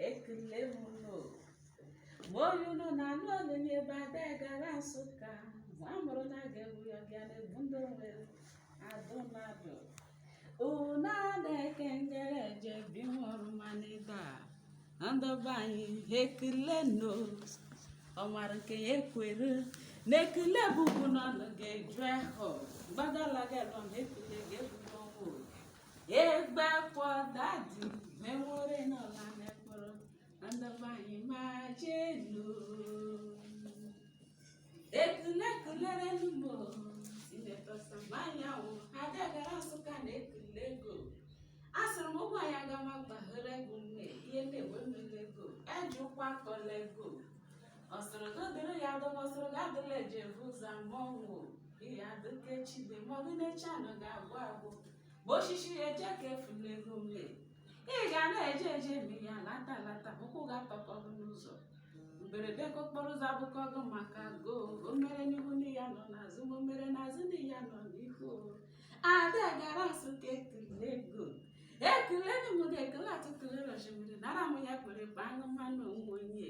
ekele m nụ ma onye ụlọ na-anụ ọnụ nye ebe ada gara nsụka ma a mụrụ na aga egbu ya bịa na-egbu ndị nwere adụ mmadụ unu na-eke ngere eje bi nwụrụ ma n'ebe a ndị be anyị ekele nụ ọmara nke ya ekwere na ekele bụ ugwu n'ọnụ ga-eju ahụ gbadalaga elọm ekele ga-ebudo ọnwụ egbe kwọ dadi menwere n'ọla mekpụrụ ndị be anyị ma jee nụ ekele kelere n'ugbo sinetọ Sam Anyanwụ ada gara nsụka na ekele ego a sịrị m ụmụ anyị aga m agbaghara ego nne ihe na-enwe mmiri ego eji ụkwụ akọla ego ọ sịrị na odere ya adọba ọ sịrị na adịla eji evu ụzọ ama ọnwụ ihe adịka echi dị ma ọ bụ n'echi anọ ga-agwụ agwụ bụ oshishi ya eje ka efula ego nne ị ga na-eje eje eme ya lata lata ụkwụ ga-atọkọ gị n'ụzọ mberede ka okporo ụzọ abụkọ gị maka go o mere n'ihu ndị ya nọ n'azụ ma o mere n'azụ ndị ya nọ n'ihu ada gara nsụka ekele ego ekele ndị mụ ga-ekele atụtụle rọjimiri nara m ya kpere kpa aṅụ mmanụ onwe onye